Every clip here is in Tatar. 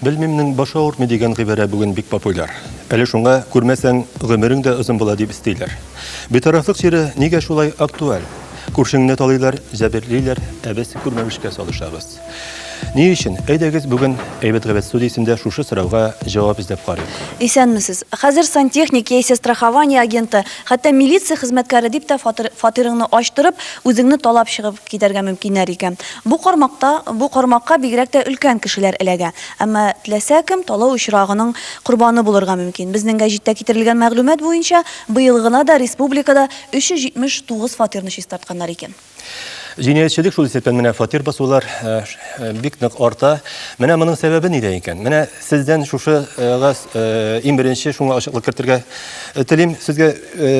Белмимнең башы авыртмый дигән гыйбарә бүген бик популяр. Әле шуңа күрмәсәң, гомерең дә озын була дип өстиләр. Битарафлык чире нигә шулай актуаль? Күршеңне талыйлар, җәберлиләр, ә без күрмәмешкә салышабыз. Ни өчен? Әйдәгез, бүген Әйбәт Габәт студиясендә шушы сорауга җавап эзләп карыйк. Исәнмесез. Хәзер сантехник яисә страхование агенты, хәтта милиция хезмәткәре дип тә фатирыңны ачтырып, үзеңне талап чыгып китәргә мөмкиннәр икән. Бу кармакта, бу кармакка бигрәк тә өлкән кешеләр эләгә. Әмма теләсә кем талау очрагының корбаны булырга мөмкин. Безнең гәҗиттә китерелгән мәгълүмат буенча, быел гына да республикада 379 фатирны чистартканнар икән. Җинаятьчелек шул исәптән менә фатир басулар бик нык арта. Менә моның сәбәбе нидә икән? Менә сездән шушыга иң беренче шуңа ачыклык кертергә телим. Сезгә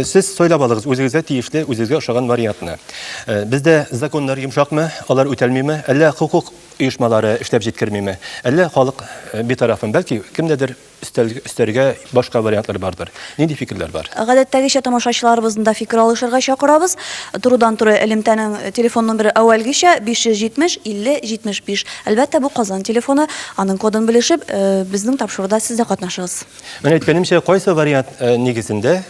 сез сайлап алыгыз үзегезгә тиешле, үзегезгә ошаган вариантны. Э, бездә законнар йомшакмы, алар үтәлмиме, әллә хокук оешмалары эшләп җиткермиме, әллә халык э, битарафмы, бәлки кемдәдер өстәргә башка вариантлар бардыр. Нинди фикерләр бар? Гадәттәгечә тамашачыларыбызны да фикер алышырга чакырабыз. Турыдан-туры элемтәнең телефон номеры әүвәлгечә 570 50 75. Әлбәттә, бу Казан телефоны. Аның кодын белешеп, э, безнең тапшыруда сез дә катнашыгыз. Менә әйткәнемчә, кайсы вариант нигезендә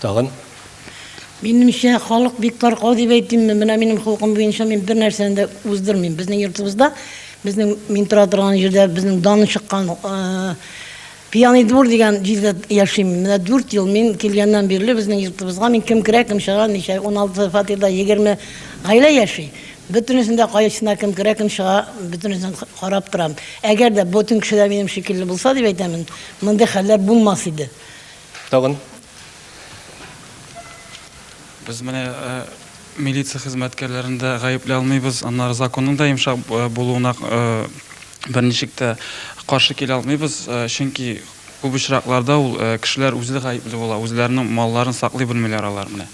Тагын. Минемчә, халык бик таркау дип әйтимме, менә минем холкым буенча мин бер нәрсәне дә уздырмыйм. Безнең йортыбызда, безнең мин тора торган җирдә безнең даны чыккан э, пьяный двор дигән җирдә яшим. Менә 4 ел мин килгәннән бирле безнең йортыбызга мин кем керә, кем чыга, ничә 16 фатирда 20 гаилә яши. Бөтенесен дә кайсына кем керә, кем чыга, бөтенесен карап торам. Әгәр дә бөтен кеше дә минем шикелле булса дип әйтәмен, мондый хәлләр булмас иде. Тагын. Без менә милиция хезмәткәрләрен дә гаепләй алмыйбыз, аннары законның да йомшак булуына берничек тә каршы килә алмыйбыз, чөнки күп очракларда ул кешеләр үзе гаепле була, үзләренең малларын саклый белмиләр алар менә.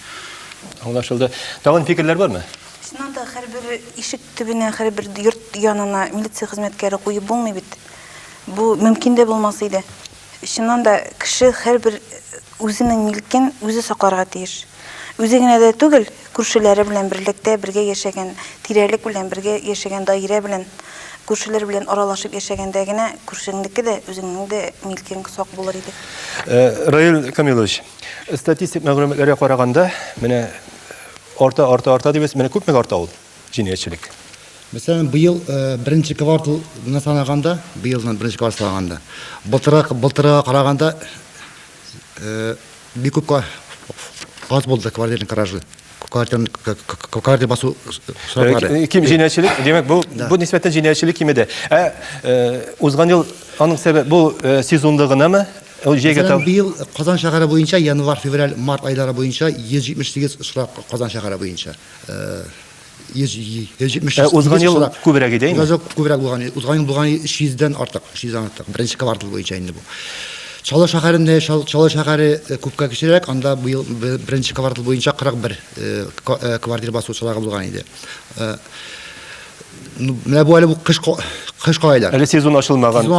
Аңлашылды. Тагын фикерләр бармы? Чыннан да һәрбер ишек төбенә, һәрбер йорт янына милиция хезмәткәре куеп булмый бит. Бу мөмкин дә булмас иде. Чыннан да, кеше һәрбер үзенең милкен үзе сакларга тиеш. Үзе генә дә түгел, күршеләре белән берлектә бергә яшәгән, тирәлек белән бергә яшәгән даирә белән, күршеләр белән аралашып яшәгәндә генә күршеңнеке дә, үзеңнең дә милкең сак булыр иде. Раил Камилович, статистик мәгълүматларга караганда, менә арта, арта, арта дибез, менә күпмегә арта ул? җинаятьчелек. Мәсәлән, быел беренче кварталны санаганда, быелны беренче квартал санаганда, былтырак, былтырга караганда бик күп аз булды квартирный кражы. Квартира басу сроклары. Ким җинаятьчелек, димәк, бу бу нисбәттән җинаятьчелек кимеде. Ә узган ел аның сәбәбе бу сезонлы гынамы? Ул җәйгә тәү. Быел Казан шәһәре буенча январь, февраль, март айлары буенча 178 очрак Казан шәһәре буенча. Ә узган ел күбрәк иде инде. Узган ел күбрәк булган иде. Узган ел булган 300 дән артык, 300 дән артык. Беренче квартал буенча инде бу. Чаллы шәһәрендә, Чаллы шәһәре күпкә кечерәк, анда быел беренче квартал буенча 41 квартира басучылары булган иде. Менә бу әле бу кышкы айлар. Әле сезон ачылмаган. Сезон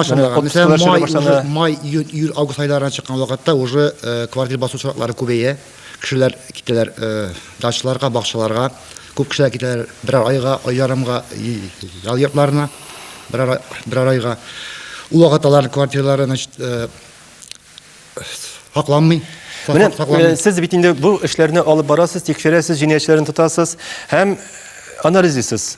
ачылмаган. Май, июнь, август айларына чыккан вакытта уже квартира басучылары күбәя. Кешеләр китәләр дачаларга, бакчаларга. Күп кешеләр китәләр берәр айга, ай ярымга ял йортларына, берәр, берәр айга. Ул вакыт аларның квартиралары, значит, сакланмый. Менә э, сез бит инде бу эшләрне алып барасыз, тикшерәсез, җинаятьчеләрне тотасыз һәм анализисыз.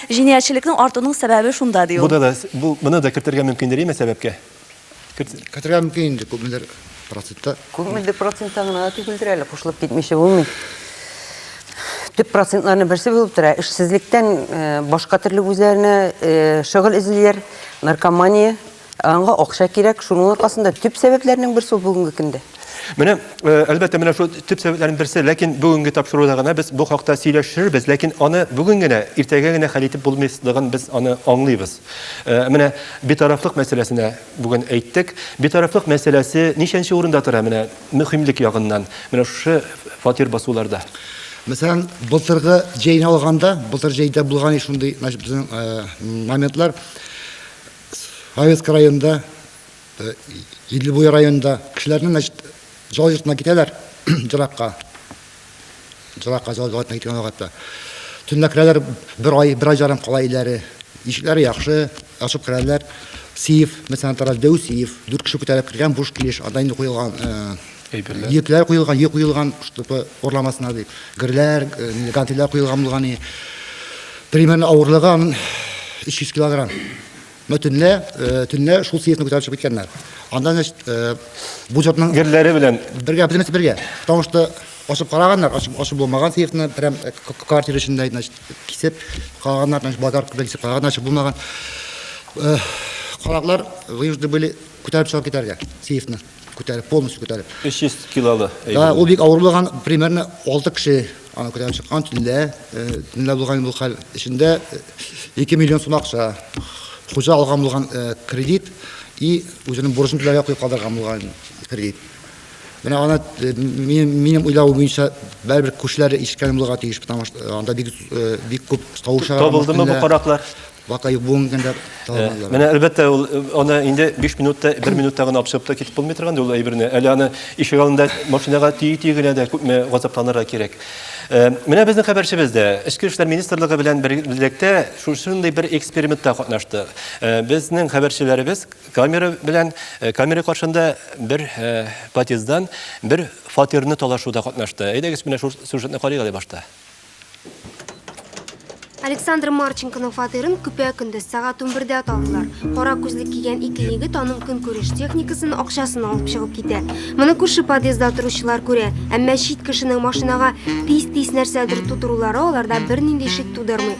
Җинаятьчелекнең артуның сәбәбе шунда, ди ул. Буда да, бу, моны да кертергә мөмкиндер, яме сәбәпкә? Керт. Кертергә мөмкин инде, күпмедер процентта. Күпмедер процентта гына да түгелдер әле, кушылып китмичә булмый. Төп процентларның берсе булып тора. Эшсезлектән башка төрле үзләренә шөгыль эзлиләр, наркомания, Аңа акча кирәк, шуның аркасында төп сәбәпләрнең берсе бүгенге көндә. Менә, э, әлбәттә, менә шул төп сәбәпләрнең берсе, ләкин бүгенге тапшыруда гына без бу хакта сөйләшербез, ләкин аны бүген генә, иртәгә генә хәл итеп булмыйсызлыгын без аны аңлыйбыз. Э, менә битарафлык мәсьәләсенә бүген әйттек. Битарафлык мәсьәләсе ничәнче урында тора менә мөһимлек ягыннан? Менә шушы фатир басуларда. Мәсәлән, былтыргы җәйне алганда, былтыр җәйдә булган шундый, значит, безнең э, моментлар Советск районында, Идлебуй районында кешеләрнең, значит, зал йортына китәләр, җыракка. Җыракка зал йортына киткән вакытта. Төнлә керәләр, бер ай, бер ай жарым кала иләре. Ишекләре яхшы, ачып керәләр. Сейф, мәсәлән, тараз дәү сейф, дүрт кеше күтәреп кергән буш килеш, анда инде куелган әйберләр. Йөкләр куелган, йөк куелган, чтобы орламасына дип. Герләр, гантельләр куелган булган и примерно авырлыгы аның 300 килограмм. Но төнлә, төнлә шул съездны күтәреп чыгып киткәннәр. Анда, значит, бу җортның герләре белән бергә, бөтенесе бергә. Потому что ашып караганнар, ашып, ашып булмаган съездны, прям квартира эчендә, значит, кисеп караганнар, значит, базар белән кисеп караганнар, ашып булмаган. Караклар вынуждены были күтәреп чыгып китәргә съездны. Күтәреп, полностью күтәреп. 300 килолы. Да, ул бик авыр булган, примерно 6 кеше аны күтәреп чыккан төнлә. Төнлә булган бу хәл эчендә 2 миллион сум акча. Хуҗа алган булган кредит и үзенең бурычын түләргә куеп калдырган булган кредит. Менә аны минем уйлавым буенча бәрбер күршеләре ишеткән булырга тиеш, потому что анда бик бик күп тавышлар. Табылдымы бу караклар? Бака юк бүгенге көндә таламалар. Менә әлбәттә ул аны инде 5 минутта, 1 минутта гына абсып та китеп булмый торган ул әйберне. Әле аны ишек алдында машинага тии-тии генә дә күпме газапланырга кирәк. Менә безнең хәбәрчебез дә Эчке эшләр министрлыгы белән берлектә шушындый бер экспериментта катнашты. Безнең хәбәрчеләребез камера белән камера каршында бер подъезддан бер фатирны талашуда катнашты. Әйдәгез менә шул сюжетны карыйк әле башта. Александр Марченконың фатирын көпә-көндез сәгать 11-дә табдылар. Кара күзлек кигән ике егет аның көнкүреш техникасын, акчасын алып чыгып китә. Моны күрше подъездда торучылар күрә, әмма чит кешенең машинага тиз-тиз нәрсәдер тутырулары аларда бернинди шик тудырмый.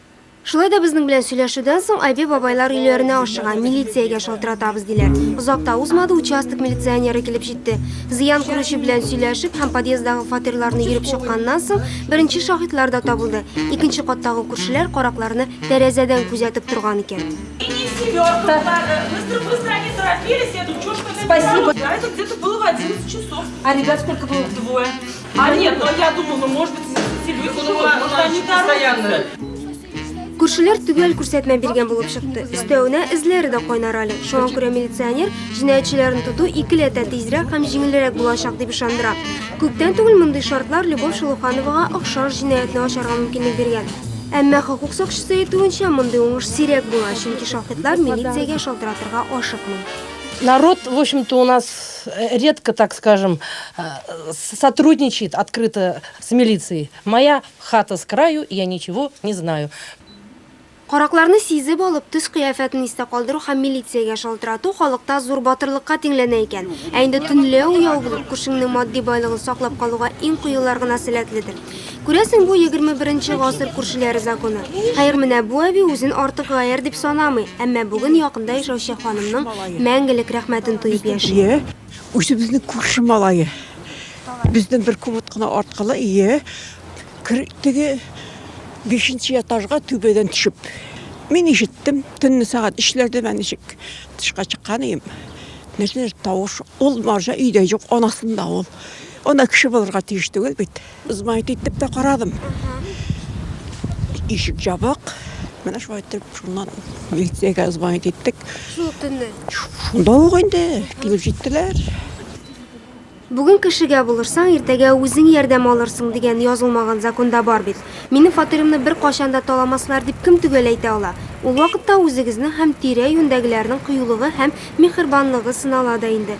Шулай да безнең белән сөйләшүдән соң Айбе бабайлар өйләренә ашыга, милициягә шалтыратабыз диләр. Озак та узмады, участок милиционеры килеп җитте. Зыян күрүче белән сөйләшеп һәм подъездагы фатирларны йөреп чыкканнан соң, беренче шаһитлар да табылды. Икенче каттагы күршеләр каракларны тәрәзәдән күзәтеп торган икән. Спасибо. А ребят сколько было? Двое. А нет, но я думал, ну может быть, Сильвия Кунова, может они постоянно. Күршеләр төгәл күрсәтмә биргән булып чыкты. Өстәвенә эзләре дә кайнар әле. Шуңа күрә милиционер җинаятьчеләрне тоту икеләтә тизрәк һәм җиңелрәк булачак дип ышандыра. Күптән түгел мондый шартлар Любовь Шулухановага охшаш җинаятьне ачарга мөмкинлек биргән. Әмма хокук сакчысы әйтүенчә, мондый уңыш сирәк була, чөнки шаһитлар милициягә шалтыратырга ашыкмый. Народ, в общем-то, у нас редко, так скажем, э, сотрудничает открыто с милицией. Моя хата с краю, я ничего не знаю. Каракларны сизеп алып, төс кыяфәтен истә калдыру һәм милициягә шалтырату халыкта зур батырлыкка тиңләнә икән. Ә инде төнлә уяу булып, күршеңнең матди байлыгын саклап калуга иң кыюлар гына сәләтледер. Күрәсең, бу егерме беренче гасыр күршеләре законы. Хәер, менә бу әби үзен артык гаярь дип санамый, әмма бүген якында яшәүче ханымның мәңгелек рәхмәтен тоеп яши. Ие, үзебезнең күрше малае. Бездән бер комод кына арткылы, ие. Кер, теге бишенче этажга түбәдән төшеп. Мин ишеттем, төнне сәгать өчләрдә мен ничек тышка чыккан идем. Нәрсәдер тавыш, ул марҗа өйдә юк, анасында ул. Ана кеше булырга тиеш түгел бит. Знает итеп тә карадым. Ишек җабык. Менә шулай итеп, шуннан милициягә звонить иттек. Шул төнне. Шунда ук инде килеп җиттеләр. Бүген кешегә булырсаң, иртәгә үзең ярдәм алырсың дигән язылмаган законда бар бит. Минем фатиримны бер качан да таламаслар дип кем төгәл әйтә ала? Ул вакытта үзегезнең һәм тирә-юньдәгеләрнең кыюлыгы һәм миһербанлыгы сынала да инде.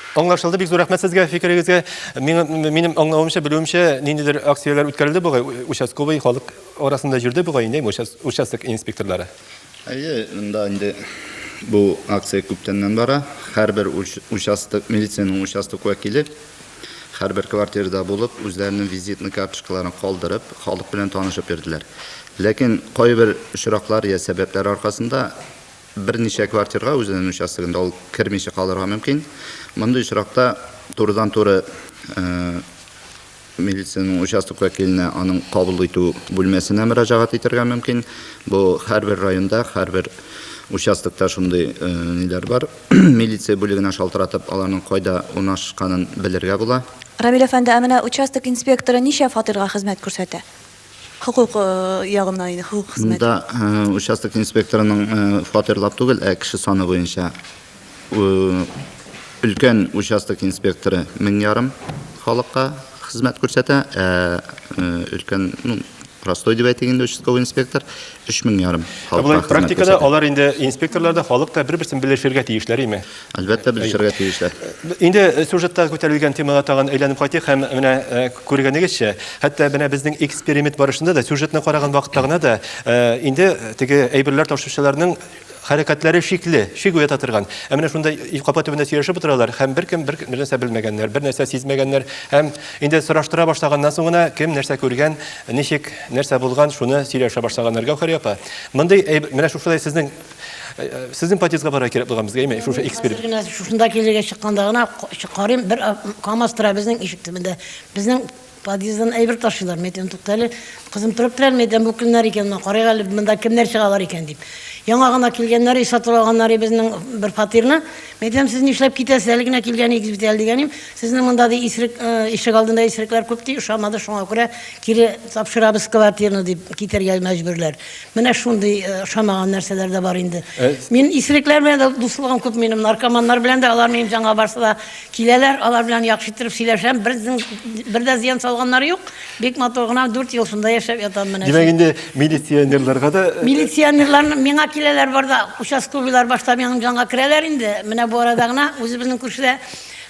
Аңлашылды, бик зур рәхмәт сезгә фикерегезгә. Минем аңлавымча, белүемчә, ниндидер акцияләр үткәрелде бугай, участковый халык арасында йөрде бугай инде участок инспекторлары. Әйе, монда инде бу акция күптәннән бара. Һәрбер участок, милициянең участок вәкиле һәрбер квартирада булып, үзләренең визитный карточкаларын калдырып, халык белән танышып йөрделәр. Ләкин кайбер очраклар я сәбәпләр аркасында Берничә квартирга үзенең участогында ул кермичә калырга мөмкин. Мондый очракта турыдан-туры милициянең участок вәкиленә, аның кабул итү бүлмәсенә мөрәҗәгать итәргә мөмкин. Бу һәрбер районда, һәрбер участокта шундый ниләр бар. Милиция бүлегенә шалтыратып, аларның кайда урнашканын белергә була. Рамил әфәнде, ә менә участок инспекторы ничә фатирга хезмәт күрсәтә? Хокук ягына инде, хокук хезмәт. Монда участок инспекторының фатирлап түгел, ә кеше саны буенча өлкән участок инспекторы мең ярым халыкка хезмәт күрсәтә, ә өлкән, ну, простой дип әйтик инде, участковый инспектор 3000 ярым халыкка хезмәт күрсәтә. Практикада алар инде инспекторлар да, халык та бер-берсен белешергә тиешләр име? Әлбәттә, белешергә тиешләр. Инде сюжетта күтәрелгән темага тагын әйләнеп кайтыйк һәм менә э, күргәнегезчә, хәтта менә безнең эксперимент барышында да сюжетны караган вакытта гына да э, инде теге әйберләр ташучыларның хәрәкәтләре шикле, шик уята торган. Ә менә шунда капа төбендә сөйләшеп утыралар һәм беркем бер нәрсә белмәгәннәр, бер нәрсә сизмәгәннәр һәм инде сораштыра башлаганнан соң гына кем нәрсә күргән, ничек, нәрсә булган, шуны сөйләшә башлаганнар. Гәүһәр апа, мондый менә шушылай сезнең Сезнең подъездга бара кирәк булган безгә, әйме, шушы эксперт. Генә шушында килергә чыкканда гына карыйм, бер КАМАЗ тора безнең ишек төбендә. Безнең подъезддан әйбер ташыйлар. Мин әйтәм, тукта әле, кызым торып тора, мин әйтәм, бу кемнәр икән, мына карыйк әле, монда кемнәр чыгалар икән дип. Яңа гына килгәннәр, сатып алганнар безнең бер фатирны. Мин әйтәм, сез нишләп китәсез, әле генә килгән идегез бит әле дигәнем. Сезнең монда ди исрек ишек алдында исрекләр күп ди, ошамады, шуңа күрә кире тапшырабыз квартираны дип китәргә мәҗбүрләр. Менә шундый ошамаган нәрсәләр дә бар инде. Мин исерекләр белән дә дуслыгым күп минем, наркоманнар белән дә, алар минем җанга барса да киләләр, алар белән яхшы иттереп сөйләшәм, бернең бер дә зыян салганнары юк, бик матур гына дүрт ел шунда яшәп ятам менә. Димәк инде милиционерларга да... Милиционерлар миңа киләләр бар да, участковыйлар башта минем җанга керәләр инде, менә бу арада гына үзебезнең күршедә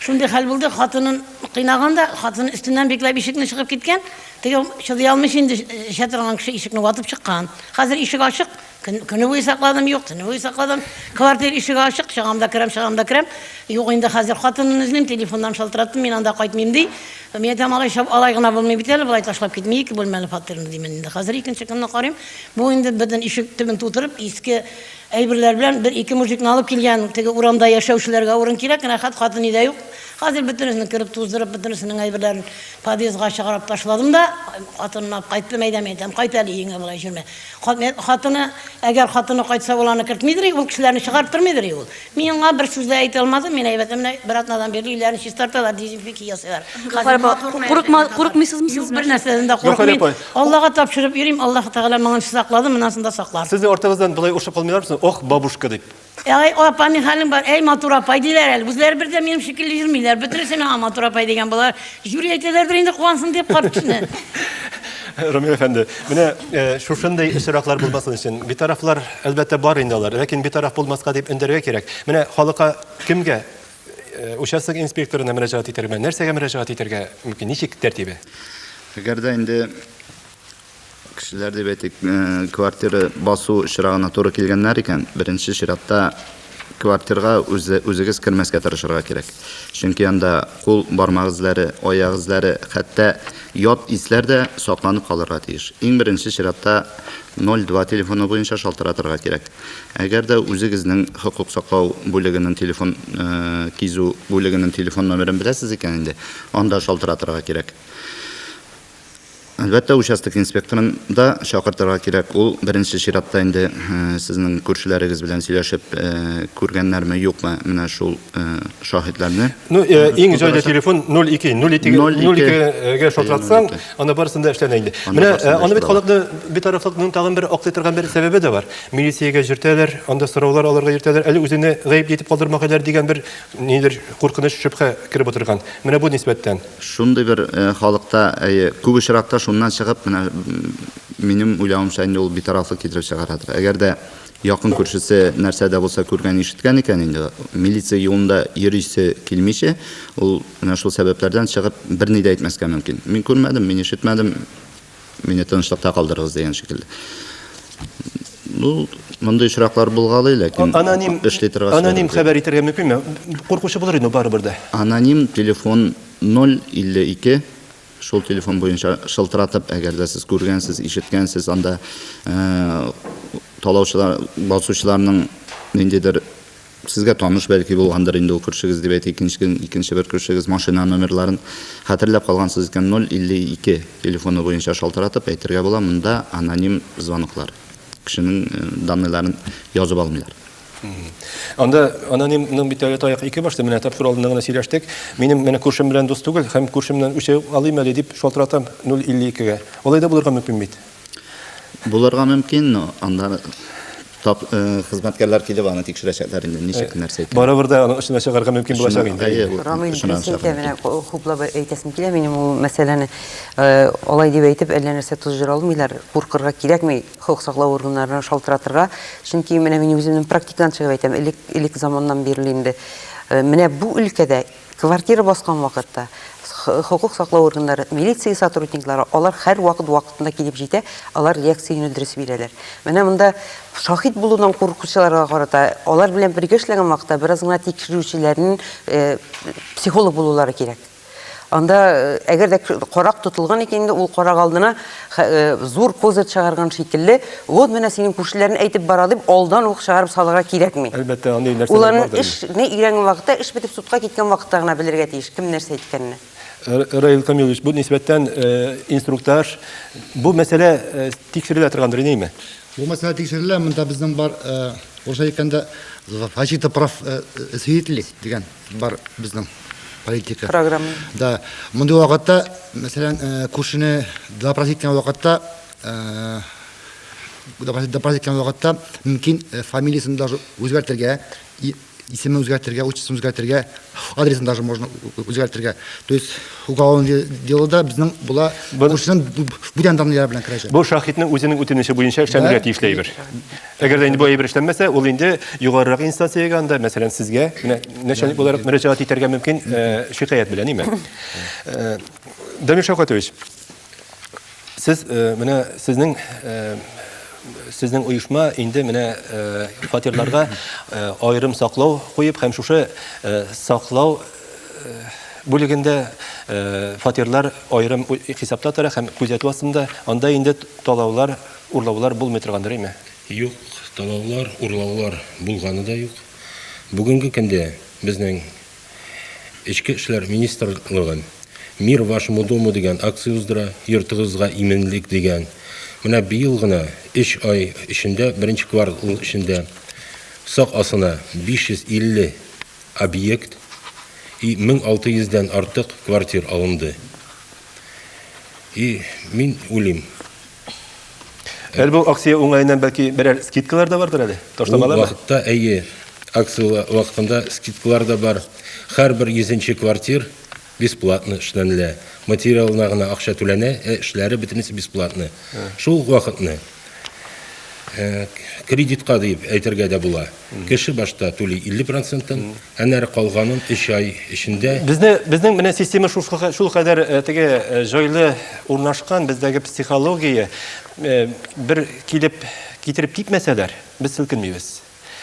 шундый хәл булды, хатынын кыйнаган да, хатыны өстеннән бикләп ишекне чыгып киткән, Тыел, чыдый алмыйсы инде, эчә торган кеше ишекне ватып чыккан. Хәзер ишек ачык, көне буе сакладым, юк, төне буе сакладым. Квартира ишеге ачык, чыгам да керәм, чыгам да керәм. Юк инде хәзер хатынын эзлим, телефоннан шалтыраттым, мин анда кайтмыйм ди. Мин әйтәм, алай чап, алай гына булмый бит әле, болай ташлап китми, ике бүлмәле фатирны димен инде. Хәзер икенче көнне карыйм, бу инде бөтен ишек төбен тутырып, иске әйберләр белән бер-ике мужикны алып килгән. Теге урамда яшәүчеләргә урын кирәк, рәхәт хатыни дә юк. Хәзер бөтенесен кереп туздырып, бөтенесенең әйберләрен Подъездга чыгарып ташладым да, хатынына кайттым, әйдәм, әйдәм, кайт әле өеңә болай йөрмә. Хатыны, әгәр хатыны кайтса, ул аны кертмидер, ул кешеләрне чыгарып тормыйдыр ул. Мин аңа бер сүз дә әйтә алмадым, мин әйбәтем менә бер атнадан бирле өйләрен чистарталар, дезинфекция ясыйлар. Курыкма, курыкмыйсызмы сез? Бер нәрсәдән дә курыкмыйм. Аллага тапшырып йөрим, Аллаһ Тәгалә моңа саклады, монысында саклар. Сезнең артыгыздан болай ошып калмыйлар мисыз? Ох, бабушка дип. Әй, апа, ни хәлең бар? Әй, матур апай диләр әле. Үзләре бер дә минем шикелле йөрмиләр. Бөтенесе миңа матур апай дигән болар. Жюри әйтәләрдер инде куансын дип карт кешене. Рамил әфәнде, менә э, шушындый очраклар булмасын өчен битарафлар әлбәттә бар инде алар, ләкин битараф булмаска дип өндәргә кирәк. Менә халыкка кемгә э, участок инспекторына мөрәҗәгать итәргә, нәрсәгә мөрәҗәгать итәргә мөмкин, ничек тәртибе? Әгәр дә инде Кешеләр, дип әйтик, квартира басу очрагына туры килгәннәр икән, беренче чиратта квартирга үзе, үзегез кермәскә тырышырга кирәк. Чөнки анда кул бармак эзләре, аяк эзләре, хәтта ят исләр дә сакланып калырга тиеш. Иң беренче чиратта 02 телефоны буенча шалтыратырга кирәк. Әгәр дә үзегезнең хокук саклау бүлегенең телефон кизү бүлегенең телефон номерын беләсез икән инде, анда шалтыратырга кирәк. Әлбәттә, участок инспекторын да чакыртырга кирәк. Ул беренче чиратта инде э, сезнең күршеләрегез белән сөйләшеп э, күргәннәрме, юкмы, менә шул э, шаһитларны. Ну, э, иң җайлы телефон 02 02 02-гә шалтыратсаң, аны барысында эшләнә инде. Менә э, аны бит халыкны битарафлыкның тагын бер аклый торган бер сәбәбе дә бар. Милициягә җөртәләр, анда сораулар алырга җөртәләр, әле үзенә гаеп итеп калдырмагайлар дигән бер нидер куркыныч шөбһә кереп утырган. Менә бу нисбәттән. Шундый бер халыкта, әйе, күп очракта шуннан чыгып, менә минем уйлавымча инде ул битарафлык китереп чыгарадыр. Әгәр дә якын күршесе нәрсә дә булса күргән, ишеткән икән инде, милиция юлында йөрисе килмичә, ул менә шул сәбәпләрдән чыгып берни дә әйтмәскә мөмкин. Мин күрмәдем, мин ишетмәдем, Мине тынычлыкта калдырыгыз дигән шикелле. Ну, мондый очраклар булгалый, ләкин аноним эшли торган. Аноним хәбәр итәргә мөмкинме? Куркучы булыр инде барыбер дә. Аноним телефон 052 шул телефон буенча шылтыратып, әгәр дә сез күргәнсез, ишеткәнсез, анда э, талаучылар, басучыларның ниндидер Сезгә таныш бәлки булгандыр инде ул күршегез, дип әйтә икенчедән икенче бер күршегез машина номерларын хәтерләп калгансыз икән 052 телефоны буенча шалтыратып әйтергә була, монда аноним звоноклар. Кешенең данныйларын язып алмыйлар. Анда аноним ның бит әле таяк ике башты, менә тапшыру алдында гына сөйләштек. Минем менә күршем белән дус түгел һәм күршемнән үчәү алыйм әле дип шалтыратам 052 гә. Алай да булырга мөмкин бит. Булырга мөмкин, но анда тап э, хезмәткәрләр килеп аны тикшерәчәкләр инде, ничек э, нәрсә икән. Барыбер дә аның эшенә чыгарга мөмкин булачак инде. Әйе, ул Рамый шуннан дөрес әйтә, менә ку- хуплап әйтәсем килә минем ул мәсьәләне. Э, Алай дип әйтеп, әллә нәрсә тузжыра алмыйлар. Куркырга кирәкми хокук саклау органнарына шалтыратырга. Чөнки менә мин үземнең практикадан чыгып әйтәм, элек, элек заманнан бирле инде. Э, Менә бу өлкәдә Квартира баскан вакытта хокук саклау органнары, милиция сотрудниклары, алар һәрвакыт вакытында килеп җитә, алар реакция юнәлдересе бирәләр. Менә монда шахид булудан куркучыларга карата, алар белән бергә эшләгән вакытта бераз гына тикшерүчеләрнең э, психолог булулары кирәк. Анда э, әгәр дә карак тотылган икән, ул карак алдына Ха, э, зур козырь чыгарган шикелле, вот менә синең күршеләрне әйтеп бара дип, алдан ук чыгарып салырга кирәкми. Әлбәттә, андый нәрсәләр Уларның бардыр. эшне өйрәнгән вакытта, эш бетеп судка киткән вакытта гына белергә тиеш, кем нәрсә әйткәнне. Р- Раил Камилович, бу нисбәттән э, инструктаж, бу мәсьәлә э, тикшерелә торгандыр, инеме? Бу мәсьәлә тикшерелә, монда безнең бар, э, урысча әйткәндә, защита прав э, э, свидетелей дигән. Бар безнең политика. Программа. Да. Мондый вакытта, мәсәлән, э, күршене допрос иткән вакытта, э, допрос иткән вакытта мөмкин э, фамилиясен даже үзгәртергә, исемен үзгәртергә, отчествосын үзгәртергә, адресын даже можно үзгәртергә. То есть Уголовное де- делода безнең була Бу- күршенең бу- бу- бүтән данныйлары белән керәчәк. Бу шаһитның үзенең үтенече буенча эшләнергә Да. тиешле әйбер. Әгәр дә инде бу әйбер эшләнмәсә, ул инде югарырак инстанциягә анда, мәсәлән, сезгә, менә начальник буларак мөрәҗәгать итәргә мөмкин э, шикаять белән, ниме? Э, Дамир Шәүкәтович, Сез менә сезнең сезнең оешма инде менә фатирларга аерым саклау куеп һәм шушы саклау бүлегендә фатирлар аерым хисапта тора һәм күзәтү астында анда инде талаулар урлаулар булмый торгандыр әйме юк талаулар урлаулар булганы да юк бүгенге көндә безнең Эчке эшләр министрлыгы Мир вашему дому дигән акция уздыра, йортыгызга иминлек дигән. Менә быел гына, өч ай эчендә, беренче квартал эчендә сак асына 550 объект и 1600 дән артык квартир алынды. И мин уйлыйм, Әле бу акция уңаеннан бәлки берәр скидкалар да бардыр әле? Ташламалар. Вакытта әйе. Акция вакытында скидкалар да бар. Һәрбер 100 квартир бесплатно эшләнелә. Материалына гына акча түләнә, ә эшләре бөтенесе бесплатно. Шул вакытны кредитка дип әйтергә дә була. Кеше башта түли 50 процентын, әнәре калганын 3 ай эчендә. Безне, безнең менә система шул, шул кадәр э, теге э, җайлы урнашкан, бездәге психология э, бер килеп китереп китмәсәләр, без селкенмибез.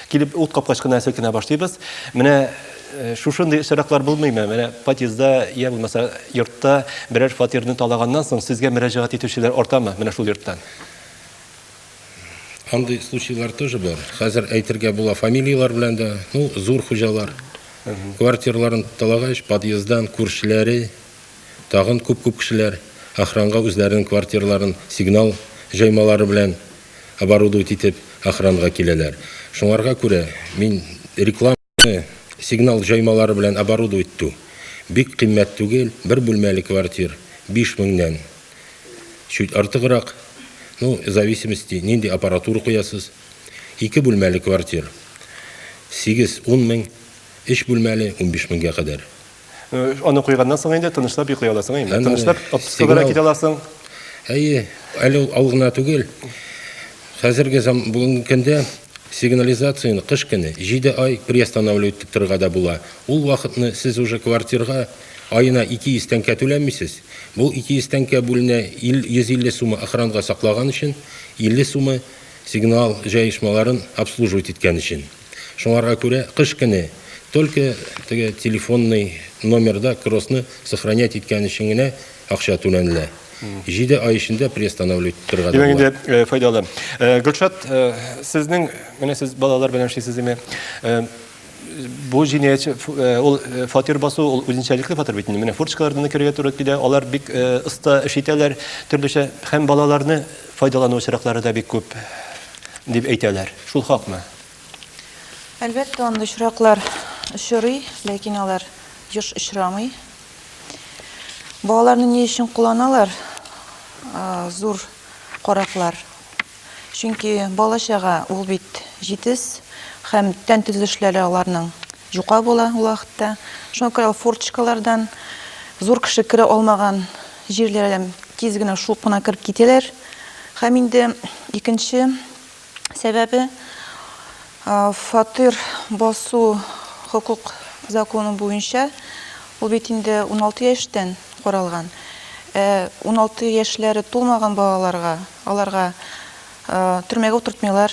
Килеп ут капкач кына селкенә башлыйбыз. Менә Э, шушындый очраклар булмыймы менә подъездда я булмаса йортта берәр фатирны талаганнан соң сезгә мөрәҗәгать итүчеләр артамы менә шул йорттан Андый случайлар тоже бар. Хәзер әйтергә була фамилияләр белән дә. Ну, зур хуҗалар. Квартирларын талагач, подъездан күршеләре, тагын күп-күп кешеләр охранга үзләренең квартирларын сигнал җаймалары белән оборудовать итеп охранга киләләр. Шуңарга күрә мин реклама Сигнал җаймалары белән оборудовать итү бик кыйммәт түгел, бер бүлмәле квартир 5 меңнән чуть артыграк, ну, в зависимости, нинди аппаратура куясыз. Ике бүлмәле квартир 8-10 мең, өч бүлмәле 15 меңгә кадәр. Аны куйганнан соң инде тынычлап йоклый аласың инде. Әнә, Тынычлап әнә, отпускага сигнал. китә аласың. Әйе, әле ул ау гына түгел. Хәзерге зам бүгенге көндә сигнализацияне кыш көне 7 ай приостанавливать итеп торырга да була. Ул вакытны сез уже квартирга аена 200 тәңкә түләмисез. Бу 200 тәңкә бүленә ил- 150 сумы охранга саклаган өчен, 50 сумы сигнал җаешмаларын обслуживать иткән өчен. Шуңарга күрә кыш көне только теге телефонный номерда кроссны сохранять иткән өчен генә акча түләнелә. Җиде ай эчендә приостанавливать итәргә дә Димәк була. инде э, файдалы. Э, Гөлшат, э, сезнең, менә сез балалар белән эшлисез име? Э, Бу җинаятьче ф- э, ул э, фатир басу, ул үзенчәлекле фатир бит инде. Менә форточкалардан да керергә туры килә. Алар бик э, оста эш итәләр, төрлечә һәм балаларны Файдалану очраклары да бик күп дип әйтәләр. Шул хакмы? Әлбәттә, андый очраклар очрый, ләкин алар еш очрамый. Балаларны ни өчен кулланалар? Зур караклар. Чөнки балачага ул бит җитез һәм тән төзелешләре аларның Җука була ул вакытта. Шуңа күрә ул форточкалардан зур кеше керә алмаган җирләрдән тиз генә шуып кына кереп китәләр. Һәм инде икенче сәбәбе фатир басу хокук законы буенча ул бит инде 16 яшьтән каралган. 16 э, яшьләре тулмаган балаларга, аларга э, төрмәгә утыртмыйлар,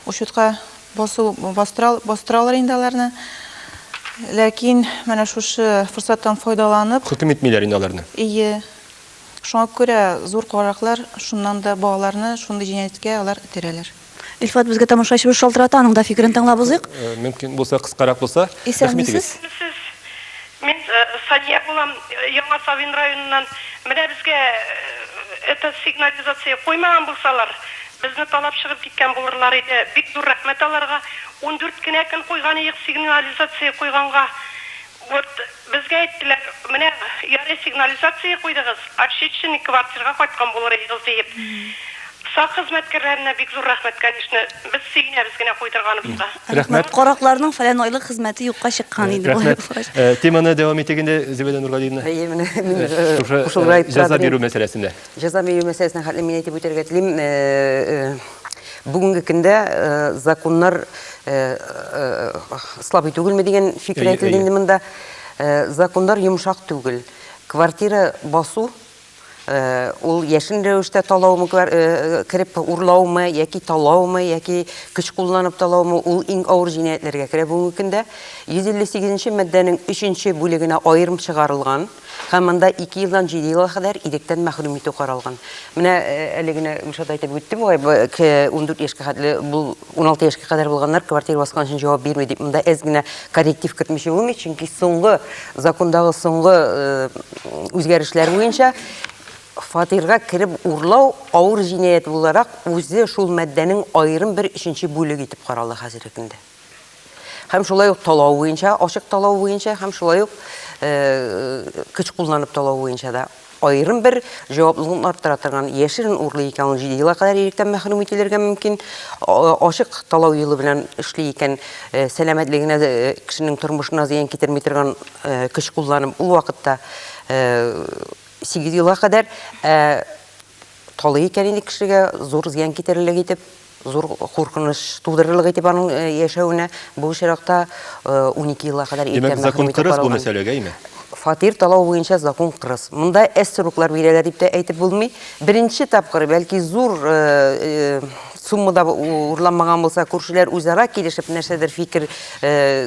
учетка Басу бастыралар инде аларны. Ләкин менә шушы форсаттан файдаланып... Хөкем итмиләр инде аларны. Ие. Шуңа күрә зур караклар шуннан да балаларны шундый җинаятькә алар этәрәләр. Илфат, безгә тамашачыбыз шалтырата, аның да фикерен тыңлап узыйк. Мөмкин булса, кыскарак булса. Исәнмесез. Исәнмесез. Мин Сания булам, Яңа Савин районыннан. Менә безгә это сигнализация куймаган булсалар, Безне талап чыгып киткән булырлар иде. Бик зур рәхмәт аларга. Ундүрт кенә көн куйган иек сигнализация куйганга. Вот безгә әйттеләр, менә ярый сигнализация куйдыгыз, очечный квартирга кайткан булыр идегез диеп. Сак хезмәткәрләренә бик зур рәхмәт, конечно. Без сөенәбез генә куйдырганыбызга. Рәхмәт. Каракларның фәлән айлык хезмәте юкка чыккан иде болай булгач. Рәхмәт. Теманы дәвам итик инде, Зөбәйдә Нургалиевна. Әйе, менә мин дә кушылырга иттерә. Җәза бирү мәсьәләсендә. Җәза бирү мәсьәләсенә хәтле мин әйтеп үтәргә телим, бүгенге көндә законнар слабый түгелме дигән фикер әйтелде инде монда. Законнар йомшак түгел. Квартира басу Э, ул яшен рәвештә талаумы э, кереп урлаумы яки талаумы яки көч кулланып талаумы ул иң авыр җинаятьләргә керә бүгенге көндә 158 нче маддәнең 3 бүлегенә аерым чыгарылган Һәм монда ике елдан җиде елга кадәр иректән мәхрүм итү каралган. Менә әле генә Гөлшат әйтеп үтте бугай, 14 яшькә хәтле бу 16 яшькә кадәр булганнар квартира баскан өчен җавап бирми дип. Монда әз генә корректив кертмичә булмый, чөнки соңгы закондагы соңгы үзгәрешләр буенча фатирга кереп урлау авыр җинаять буларак үзе шул маддәнең аерым бер өченче бүлеге итеп карала хәзерге көндә. Һәм шулай ук талау буенча, ачык талау буенча һәм шулай ук көч кулланып талау буенча да аерым бер җаваплылыгын арттыра торган яшерен урлый икән ул җиде елга кадәр иректән мәхрүм ителергә мөмкин ачык талау юлы белән эшли икән сәламәтлегенә кешенең тормышына зыян китерми торган көч кулланып ул вакытта сигез елга кадәр талый икән инде кешегә зур зыян китерерлек итеп Зур куркыныч тудырырлык итеп аның яшәвенә бу очракта унике елга кадәр иркә мәхрүм итеп каралган. Димәк, закон кырыс бу мәсьәләгә, әйме? Фатир талау буенча закон кырыс. Монда әз сроклар бирәләр дип тә әйтеп булмый. Беренче тапкыр, бәлки, зур сумма да урланмаган булса, күршеләр үзара килешеп нәрсәдер фикер,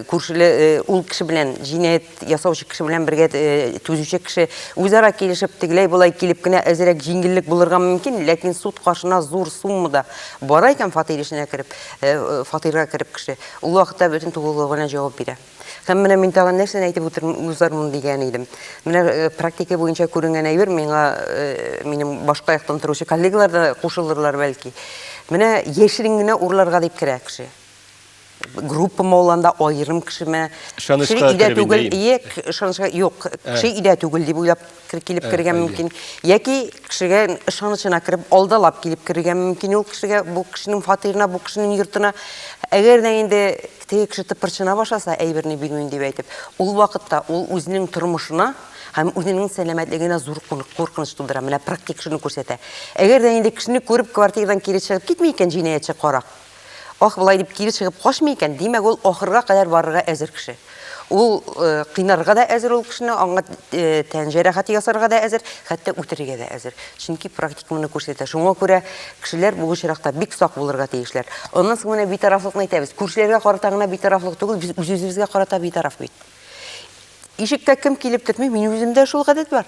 күршеләр ул кеше белән җинаять ясаучы кеше белән бергә э, төзүче кеше үзара килешеп тегеләй болай килеп кенә әзерәк җиңеллек булырга мөмкин ләкин суд каршына зур суммада бара икән фатир эченә кереп э, э, фатирга кереп кеше ул вакытта бөтен тулылыгы белән җавап бирә һәм менә мин тагын нәрсәне әйтеп узармын дигән идем менә практика буенча күренгән әйбер миңа минем башка яктан торучы коллегалар да кушылырлар бәлки менә яшерен генә урларга дип керә кеше группама оланда айырым кешеме кеше өйдә түгел ек ышанычка юк кеше өйдә түгел дип уйлап килеп керергә мөмкин яки кешегә ышанычына кереп алдалап килеп керергә мөмкин ул кешегә бу кешенең фатирына бу кешенең йортына әгәр дә инде теге кеше тыпырчына башласа әйберне бирмим дип әйтеп ул вакытта ул үзенең тормышына һәм үзенең сәламәтлегенә зур куркыныч тудыра менә практик шуны күрсәтә әгәр дә инде кешене күреп квартирадан кире чыгып китми икән җинаятьче карак Ах, болай дип кире чыгып качмый икән, димәк, ул ахырга кадәр барырга әзер кеше. Ул э, кыйнарга да әзер ул кешене, аңа э, тән җәрәхәте ясарга да әзер, хәтта үтерергә дә әзер. Чөнки практика моны күрсәтә. Шуңа күрә кешеләр бу очракта бик сак булырга тиешләр. Аннан соң менә битарафлыкны әйтәбез. Күршеләргә карата гына битарафлык түгел, без үз-үзебезгә карата битараф бит. Ишеккә кем килеп тетми, мин үземдә шул гадәт бар.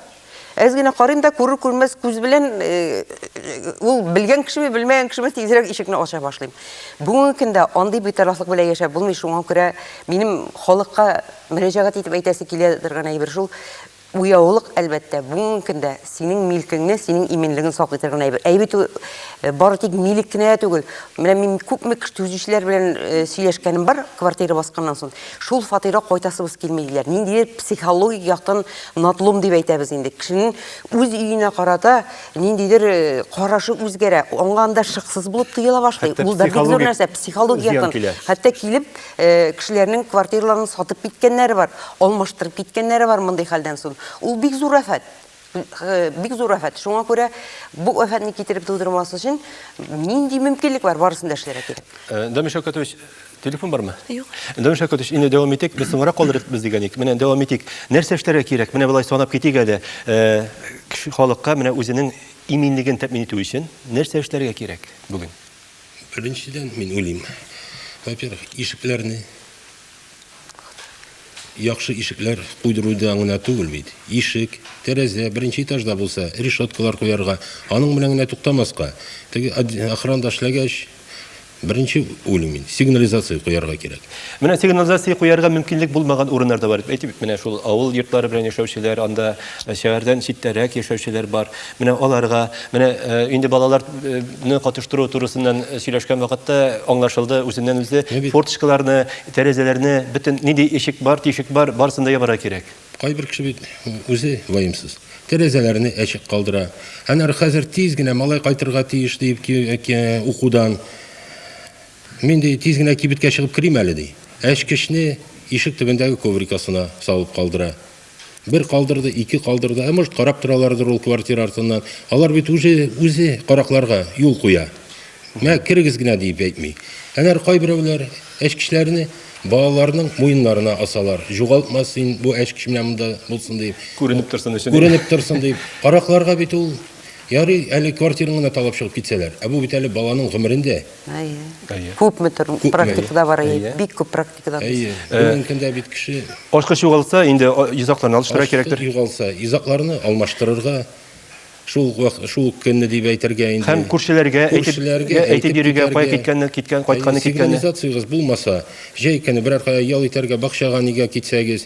Әз генә карыйм да күрер күрмәс күз белән э, ул белгән кешеме, белмәгән кешеме тизрәк ишекне ача башлыйм. Бүгенге көндә андый битарафлык белән яшәп булмый, шуңа күрә минем халыкка мөрәҗәгать итеп әйтәсе килә торган әйбер шул. Уяулык, әлбәттә, бүгенге көндә синең милкеңне, синең иминлегең сак итер генә әйбер. Әйбер түгел, э, бары тик милек кенә дә түгел. Менә мин күпме кеше төзүчеләр белән э, сөйләшкәнем бар, квартира басканнан соң. Шул фатирга кайтасыбыз килми диләр. Ниндидер психологик яктан надлом дип әйтәбез инде. Кешенең үз өенә карата ниндидер э, карашы үзгәрә. Аңа анда шыксыз булып тоела башлый. Хәтта Ул да бик зур психологик нәрсә, психологик зыян яктан. килә. Хәтта килеп, Э, кешеләрнең квартираларын сатып киткәннәре бар алмаштырып киткәннәре бар мондый хәлдән соң ул бик зур афәт э, бик зур афәт шуңа күрә бу афәтне китереп тудырмас өчен нинди мөмкинлек бар барысын да эшләргә кирәк э, дамир шәүкәтович телефон бармы юк дамир шәүкәтович инде дәвам итик без соңрак калдырырбыз дигән идек менә дәвам итик нәрсә эшләргә кирәк менә болай санап китик әле халыкка менә үзенең иминлеген тәэмин итү өчен нәрсә эшләргә кирәк бүген Беренчедән, мин уйлыйм, во-первых, ишекләрне яхшы ишекләр куйдыруда гына түгел бит. Ишек, тәрәзә, беренче этажда булса, решеткалар куярга, аның белән генә туктамаска. Теге охранда эшләгәч, беренче уйлыйм мин, сигнализация куярга кирәк. Менә сигнализация куярга мөмкинлек булмаган урыннар да бар. Әйтеп, менә шул авыл йортлары белән яшәүчеләр, анда э, шәһәрдән читтәрәк яшәүчеләр бар. Менә аларга, менә э, инде балаларны катыштыру турысыннан э, сөйләшкән вакытта аңлашылды үзеннән үзе форточкаларны, тәрәзәләрне, бөтен нинди ишек бар, тишек бар, барысын да ябарга кирәк. Кайбер кеше бит үзе ваемсыз. Тәрәзәләрне әчек калдыра. Әнә хәзер тиз генә малай кайтырга тиеш дип укудан Мин, ди, тиз генә кибеткә чыгып керим әле, ди. Әчкечне ишек төбендәге коврик астына салып калдыра. Бер калдырды, ике калдырды, ә может карап торалардыр ул квартира артыннан. Алар бит үзе, үзе каракларга юл куя. Мә, керегез генә диеп әйтми. Әнәр кайберәүләр әчкечләрне балаларның муеннарына асалар. Жугалтма син бу әчкеч менә монда булсын дип. Күренеп торсын өчен. Күренеп торсын дип. Каракларга бит ул Ярый, әле квартираны гына талап чыгып китсәләр. Ә бу бит әле баланың гомерен дә Күпме төр практикада бар, бик күп практикада. Мөмкиндә бит кеше ачкыч югалса, инде йозакларны алыштыра кирәктер. Югалса, йозакларны алмаштырырга шул шул көнне дип әйтергә инде. Һәм күршеләргә әйтергә, әйтеп йөрергә, кая киткәнне, киткән, кайтканны, киткәнне. Сигнализациягез булмаса, җәй көне берәр кая ял итәргә, бакчага нигә китсәгез,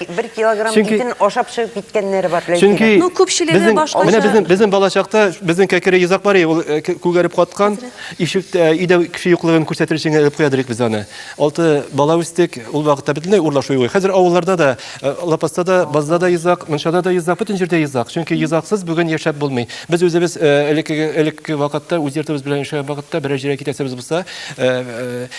Бер килограмм Чөнки... итен ашап чыгып киткәннәре бар. Чөнки ну, күпчелеге башкача. Менә безнең безнең балачакта безнең кәкере йозак бар, ул э, күгәреп каткан. Ишектә э, өйдә кеше юклыгын күрсәтер өчен элеп куядырык без аны. Алты бала үстек, ул вакытта бөтенләй урлашу юк. Хәзер авылларда да, э, лапаста да, базда да йозак, мунчада да йозак, бөтен җирдә йозак. Чөнки йозаксыз бүген яшәп булмый. Без үзебез элекке элекке вакытта үз йортыбыз белән яшәгән вакытта берәр җиргә китәсебез булса,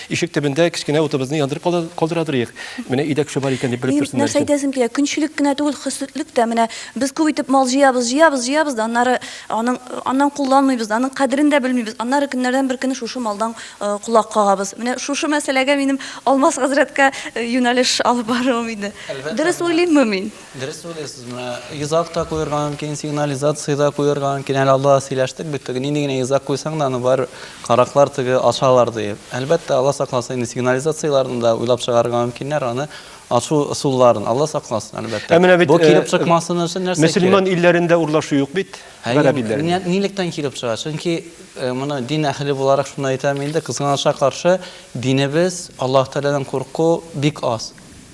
ишек төбендә кечкенә утыбызны яндырып калдырадырык. Менә өйдә кеше бар икән дип белеп торсын. Нәрсә әйтәсем килә, көнчелек кенә түгел, хөсетлек тә. Менә без күп итеп мал җыябыз, җыябыз, җыябыз да аннары аның, аннан кулланмыйбыз да, аның кадерен дә белмибез. Аннары көннәрдән бер көнне шушы малдан колак кагабыз. Менә шушы мәсьәләгә минем Алмаз хәзрәткә юнәлеш алып баруым иде. Дөрес уйлыйммы мин? Дөрес уйлыйсыз, менә йозак та куярга мөмкин, сигнализация да куярга мөмкин. Әле алда сөйләштек бит, теге нинди генә йозак куйсаң да, аны бар караклар теге ачалар диеп. Әлбәттә, Алла сакласын, инде сигнализацияләрне дә уйлап чыгарга мөмкиннәр, аны ачу ысулларын. Алла сакласын, әлбәттә. Ә менә бит, Бу килеп э, чыкмасын өчен нәрсә кирәк? Мөселман илләрендә урлашу юк бит, гарәп илләрендә. Нилектән килеп чыга? Чөнки э, моны дин әһеле буларак шуны әйтәм инде, кызганычка каршы, динебез, Аллаһ Тәгаләдән курку бик аз.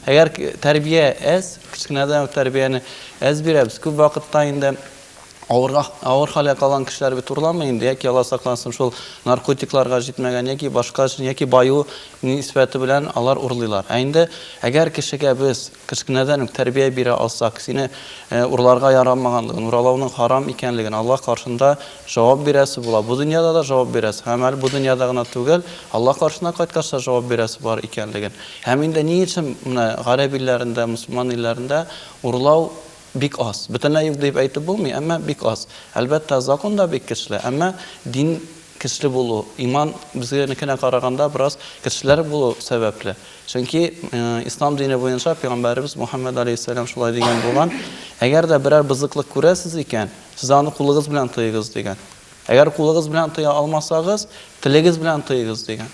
Әгәр тәрбия әз, кечкенәдән үк тәрбияне әз бирәбез, күп вакытта инде авырга авыр хәлгә калган кешеләр бит урламый инде, яки Алла саклансын, шул наркотикларга җитмәгән яки башка өчен, яки баю нисбәте белән алар урлыйлар. Ә инде әгәр кешегә без кечкенәдән үк тәрбия бирә алсак, сине э, урларга ярамаганлыгын, уралауның харам икәнлеген, Алла каршында Җавап бирәсе була. Бу дөньяда да җавап бирәсе һәм әле бу дөньяда гына түгел, Алла каршына кайткач та җавап бирәсе бар икәнлеген. Һәм инде ни өчен менә гарәп илләрендә, мөселман илләрендә урлау бик аз? Бөтенләй юк дип әйтеп булмый, әмма бик аз. Әлбәттә, закон да бик көчле, әмма дин көчле булу, иман безгәнекенә караганда бераз көчлерәк булу сәбәпле. Чөнки Ислам дине буенча пәйгамбәребез Мухаммәд алейһиссәлам шулай дигән булган, Әгәр дә берәр бозыклык күрәсез икән, Сез аны кулыгыз белән тоегыз дигән. Әгәр кулыгыз белән тоя алмасагыз, телегез белән тоегыз дигән.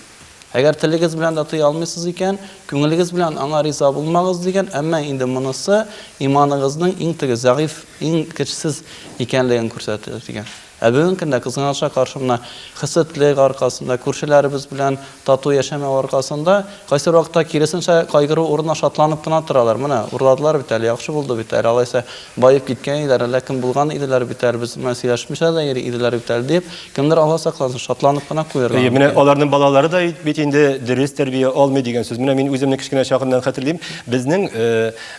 Әгәр телегез белән дә тоя алмыйсыз икән, күңелегез белән аңа риза булмагыз дигән, әмма инде монысы иманыгызның иң теге зәгыйф, иң көчсез икәнлеген күрсәтә дигән. Ә бүгенге көндә кызганыша каршы мына хәсәтлек аркасында күршеләребез белән Тату яшәмәү аркасында, кайсы бер вакытта, киресенчә, кайгыру урынына шатланып кына торалар. Менә, урладылар бит әле, яхшы булды бит әле, алайса, баеп киткән иделәр, әллә кем булган иделәр бит әле, без белән сөйләшмичә дә йөри иделәр бит әле, дип, кемдер Алла сакласын, шатланып кына куярга мөмкин. Әйе, менә аларның балалары да бит инде дөрес тәрбия алмый дигән сүз. Менә мин үземне кечкенә чагымнан хәтерлим. Безнең,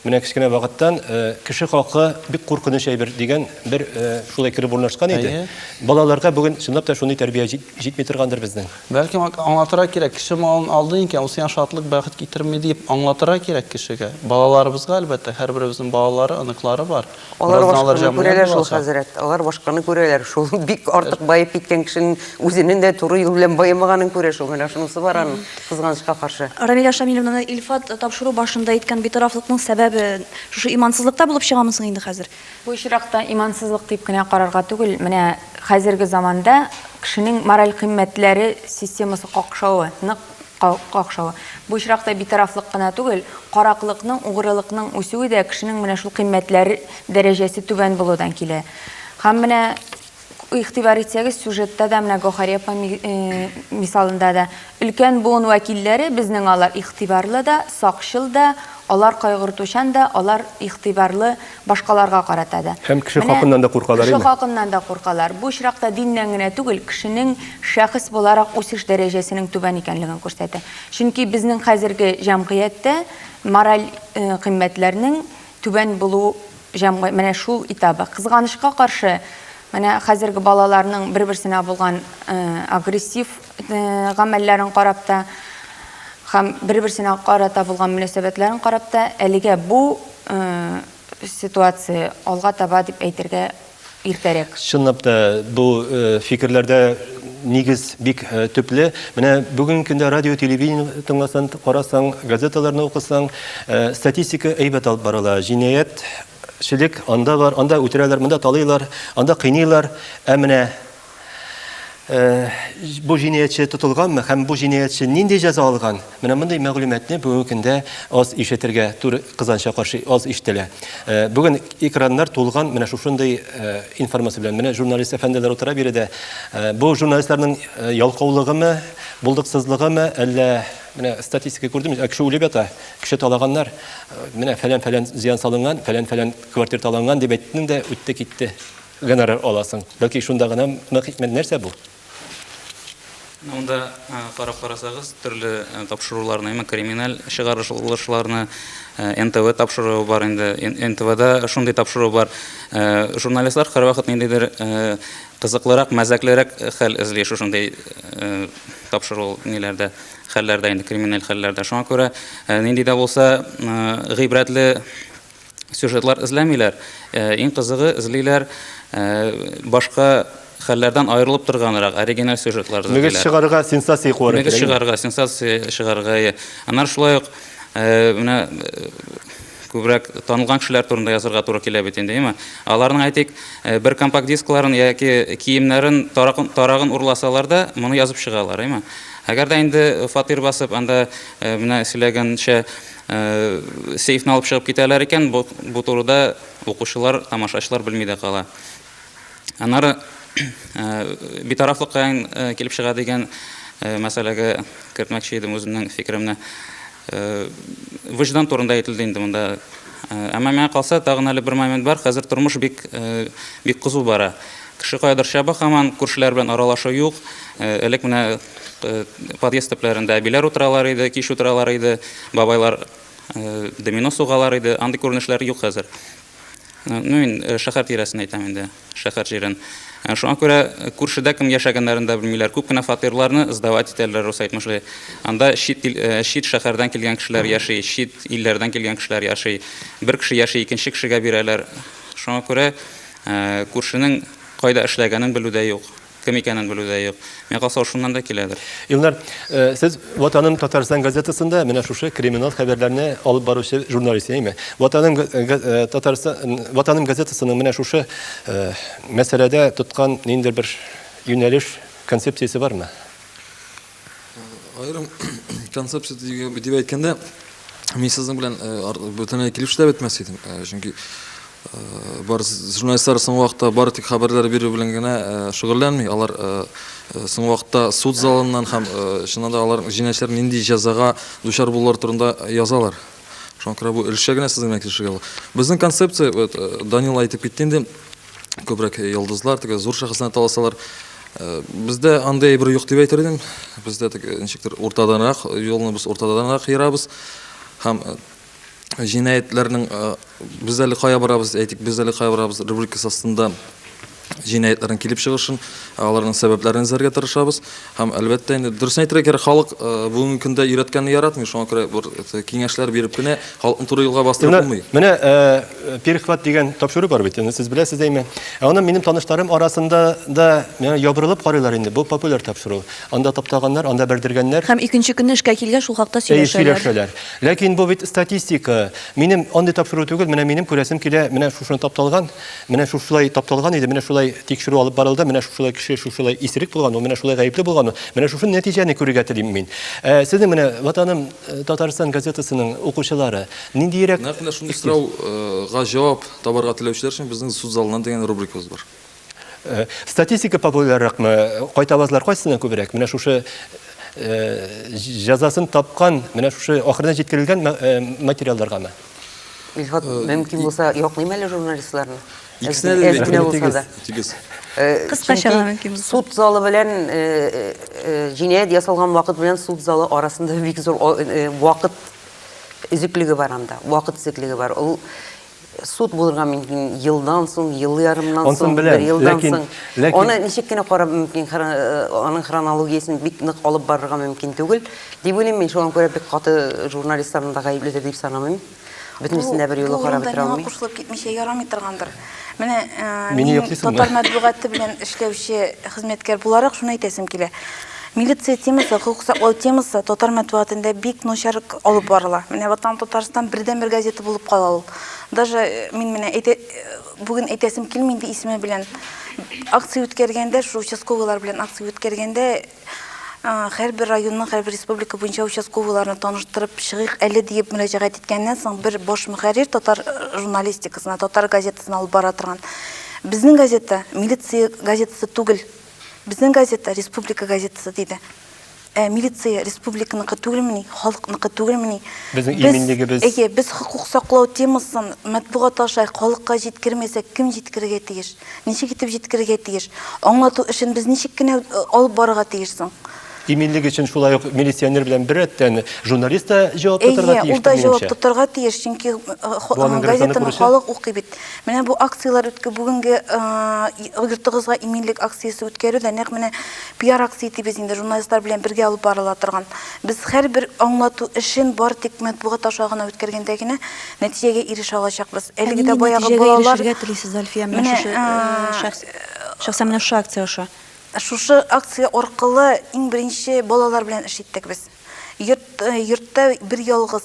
менә кечкенә вакыттан, кеше хакы бик куркыныч әйбер, дигән бер шулай кереп урнашкан иде. Әйе. Балаларга бүген чынлап та шундый тәрбия җитми торгандыр безнең. Бәлкем, аңлатырга кирәк, кеше малын алдый икән, ул сиңа шатлык, бәхет китерми, диеп аңлатырга кирәк кешегә. Балаларыбызга, әлбәттә, һәрберебезнең балалары, оныклары бар. Алар башканы күрәләр шул, хәзрәт. Алар башканы күрәләр шул. Бик артык баеп киткән кешенең үзенең дә туры юл белән баемаганын күрә шул. Менә шунысы бар аның, кызганычка каршы. Рамилә Шамилевнаны Илфат тапшыру башында әйткән битарафлыкның сәбәбе шушы имансызлыкта булып чыгамы соң инде хәзер? Бу очракта имансызлык дип кенә карарга түгел, менә хәзерге заманда кешенең мораль кыйммәтләре системасы какшавы, нык какшавы. Бу очракта битарафлык кына түгел, караклыкның, угрылыкның үсүе дә кешенең менә шул кыйммәтләр дәрәҗәсе түбән булудан килә. Һәм менә Игътибар итсәгез, сюжетта да, менә Гохари апа мисалында да, өлкән буын вәкилләре безнең алар игътибарлы да, сакчыл да, алар кайгыртучан да, алар игътибарлы башкаларга карата да. Һәм кеше хакыннан да куркалар инде. Кеше хакыннан да куркалар. Бу очракта диннән генә түгел, кешенең шәхес буларак үсеш дәрәҗәсенең түбән икәнлеген күрсәтә. Чөнки безнең хәзерге җәмгыятьтә мораль кыйммәтләрнең түбән булу җәмгый менә шул этабы. Кызганычка каршы, менә хәзерге балаларның бер-берсенә булган э, агрессив э, гамәлләрен карап та һәм бер-берсенә карата булган мөнәсәбәтләрен карап та әлегә бу э, ситуация алга таба дип әйтергә иртәрәк. Чынлап та бу фикерләрдә нигез бик төпле. Менә бүгенге көндә радио, телевидение тыңласаң, карасаң, газеталарны укысаң, статистика әйбәт алып барыла. Җинаять шелек анда бар, анда үтерәләр, монда талыйлар, анда кыйныйлар. Ә менә бу җинаятьче тотылганмы һәм бу җинаятьче нинди җәза алган? Менә мондый мәгълүматны бүгенге көндә аз ишетергә туры кызганычка каршы аз ишетелә. Бүген экраннар тулган менә шушындый информация белән. Менә журналист әфәнделәр утыра биредә. Бу журналистларның ялкаулыгымы, булдыксызлыгымы, әллә менә статистика күрдем, кеше үлеп ята, кеше талаганнар. Менә фәлән-фәлән зыян салынган, фәлән-фәлән квартира таланган дип әйттең дә үтте китте. Гонорар аласың. Бәлки шунда гына мы хикмәт нәрсә бу? Монда карап карасагыз, төрле тапшыруларны, именно криминаль чыгарылышларны НТВ тапшыруы бар инде. НТВда шундый тапшыру бар. Журналистлар һәрвакыт ниндидер кызыклырак, мәзәклерәк хәл эзли шушындый тапшыру ниләрдә, хәлләрдә инде, криминаль хәлләрдә. Шуңа күрә нинди дә булса гыйбрәтле сюжетлар эзләмиләр. Иң кызыгы эзлиләр башка хәлләрдән аерылып торганрак оригиналь сюжетлар эзлиләр. Мөгез чыгарырга сенсация куарга кирәк. Мөгез чыгарырга, сенсация чыгарырга. Аннары шулай ук менә күбрәк танылган кешеләр турында язарга туры килә бит инде, яме. Аларның әйтик, бер компакт дискларын яки киемнәрен тарагын урласалар да, моны язып чыгалар, яме. Әгәр дә инде фатир басып, анда менә сөйләгәнчә, Сейфны алып чыгып китәләр икән, бу, бу турыда укучылар, тамашачылар белми дә кала. Аннары битарафлык каян килеп чыга дигән мәсьәләгә кертмәкче идем үземнең фикеремне. Вөҗдан турында әйтелде инде монда. Әмма миңа калса, тагын әле бер момент бар. Хәзер тормыш бик бик кызу бара. Кеше каядыр чаба хаман, күршеләр белән аралашу юк. Элек менә подъезд төпләрендә әбиләр утыралар иде, кич утыралар иде, бабайлар домино сугалар иде. Андый күренешләр юк хәзер. Ну, мин шәһәр тирәсен әйтәм инде, шәһәр җирен. Шуңа күрә күршедә кем яшәгәннәрен дә белмиләр. Күп кенә фатирларны сдавать итәләр, рус әйтмешли. Анда чит ил, чит шәһәрдән килгән кешеләр яши, чит илләрдән килгән кешеләр яши. Бер кеше яши, икенче кешегә бирәләр. Шуңа күрә Күршенең кайда эшләгәнен белү дә юк, кем икәнен белү дә юк. Миңа калса, ул шуннан да киләдер. Илнар, сез Ватаным Татарстан газетасында менә шушы криминал хәбәрләрне алып баручы журналист, әйеме? Ватаным Татарстан Ватаным газетасының менә шушы мәсьәләдә тоткан ниндидер бер юнәлеш, концепциясе бармы? Аерым концепция дип әйткәндә, мин сезнең белән бөтенләй килешү дә бетмәс идем. Чөнки бар журналистлар соңгы вакытта бары тик хәбәрләр бирү белән генә шөгыльләнми. Алар соңгы вакытта суд залыннан һәм чыннан да алар җинаятьчеләр нинди җәзага дучар булулар турында язалар. Шуңа күрә бу өлешчә генә сезнең белән килешергә була. Безнең концепция, Данил әйтеп китте инде, күбрәк йолдызлар теге зур шәхесләрне таласалар. Э, бездә андый бер юк дип әйтер идем. Бездә теге ничектер уртаданрак, юлны без уртаданрак ярабыз. Һәм э, җинаятьләрнең э, без әле кая барабыз, әйтик, без әле кая барабыз рубрикасы астында җинаятьләрнең килеп чыгышын, аларның сәбәпләрен эзләргә тырышабыз. Һәм әлбәттә инде дөресен әйтергә кирәк, халык э, бүгенге көндә өйрәткәнне яратмый, шуңа күрә бер э, киңәшләр биреп кенә халыкны туры юлга бастырып Менә, булмый. менә э, перехват дигән тапшыру бар бит, аны сез беләсез әйме. Ә аны минем таныштарым арасында да миңа ябырылып карыйлар инде. Бу популяр тапшыру. Анда таптаганнар, анда бәрдергәннәр. Һәм икенче көнне эшкә килгән шул хакта Әйе, сөйләшәләр. сөйләшәләр. Ләкин бу бит статистика. Минем андый тапшыру түгел, менә минем күрәсем килә, менә шушыны тапталган. Менә шушылай тапталган иде, менә шулай тикшерү алып барылды, менә шушылай кеше шушылай исерек булган ул, менә шулай гаепле булган ул, менә шушы нәтиҗәне күрергә телим мин. Ә, сезнең менә Ватаным э, Татарстан газетасының укучылары ниндиерәк Нәкъ менә шундый сорау га җавап табарга теләүчеләр өчен безнең суд залыннан дигән рубрикабыз бар. Э, статистика популярлыкмы? Кайтавазлар кайсына күбрәк? Менә шушы э, җәзасын тапкан, менә шушы ахырына җиткерелгән э, материалларгамы? Илфат, э, мөмкин булса, яклыйм әле журналистларны. Икесенә дә әзгенә булса да. Тигез. Э, Кыскача мөмкин булса. Суд залы белән э, җинаять ясалган вакыт белән суд залы арасында бик зур вакыт өзеклеге бар анда. Вакыт өзеклеге бар. Ул суд булырга мөмкин елдан соң, ел ярымнан соң, бер елдан соң. Аны ничек кенә карап мөмкин, аның хронологиясен бик нык алып барырга мөмкин түгел. Дип уйлыйм мин, шуңа күрә бик каты журналистларны да гаепледер дип санамыйм. Бөтенесен дә бер юлы карап бетерә алмыйм. Кушылып китмичә ярамый торгандыр. Менә э, мин татар матбугаты белән эшләүче хезмәткәр буларак шуны әйтәсем килә. Милиция темасы, хокук саклау темасы татар матбугатында бик начар алып барыла. Менә Ватан Татарстан бердән бер газета булып кала ул. Даже э, мин менә әйтә бүген әйтәсем килми инде исеме белән акция үткәргәндә, шу участковыйлар белән акция үткәргәндә Һәрбер районның, һәрбер республика буенча участковыйларны таныштырып чыгыйк әле диеп мөрәҗәгать иткәннән соң, бер баш мөхәррир татар журналистикасына, татар газетасына алып бара торган. Безнең газета милиция газетасы түгел. Безнең газета республика газетасы диде. Ә милиция республиканыкы түгелмени, халыкныкы түгелмени? Безнең иминлегебез. Әйе, без хокук саклау темасын матбугат аша халыкка җиткермәсәк, кем җиткерергә тиеш? Ничек итеп җиткерергә тиеш? Аңлату эшен без ничек кенә алып барырга тиеш соң? Иминлек өчен шулай ук милиционер белән беррәттән журналист та җавап тотарга тиеш. Әйе, ул да җавап тотарга тиеш, чөнки газетаны халык укый бит. Менә бу акцияләр үтке бүгенге йортыгызга иминлек акциясе үткәрү дә нәкъ менә пиар акция итеп без инде журналистлар белән бергә алып барыла торган. Без һәрбер аңлату эшен бар тик матбугат аша гына үткәргәндә генә Нәтиҗәгә ирешә алачакбыз. Әлеге дә баягы балалар. Нәтиҗәгә телисез, Альфия, менә шушы шәхс, шәхсән менә шушы акция аша? Шушы акция аркылы иң беренче балалар белән эш иттек без. Йорт, йортта бер ялгыз,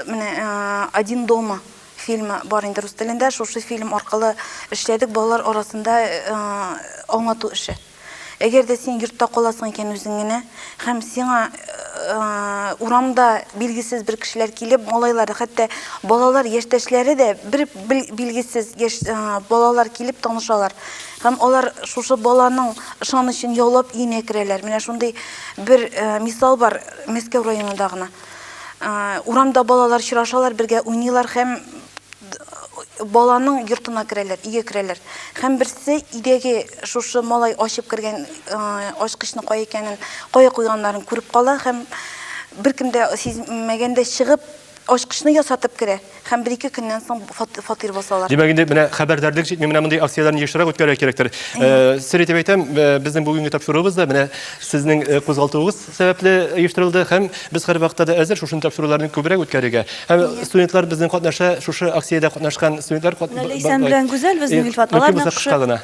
менә один дома фильмы бар инде рус телендә, шушы фильм аркылы эшләдек балалар арасында аңлату эше. Әгәр дә син йортта каласың икән үзең генә һәм сиңа урамда билгесез бер кешеләр килеп, малайлары, хәтта балалар яшьтәшләре дә бер билгесез яшь балалар килеп танышалар. Һәм алар шушы баланың ышанычын яулап өенә керәләр. Менә шундый бер мисал бар Мәскәү районында гына. Урамда балалар чырашалар, бергә уйныйлар һәм баланың йортына керәләр, иге керәләр. Һәм берсе идеге шушы малай ачып кергән ачкычны кая икәнен, кая куйганнарын күреп кала һәм беркемдә сизмәгәндә чыгып ачкычны ясатып керә. һәм бер-ике көннән соң фатир басалар. Димәк, инде менә хәбәрдарлык җитми, менә мондый акцияләрне ешрак үткәрергә кирәктер. Э, сер итеп әйтәм, э, безнең бүгенге тапшыруыбыз да менә сезнең э, кузгалтуыгыз сәбәпле оештырылды һәм без һәрвакытта да әзер шушындый тапшыруларны күбрәк үткәрергә. Һәм студентлар безнең катнаша, шушы акциядә катнашкан студентлар Ләйсән белән Гүзәл безнең Илфат, алар нәкъ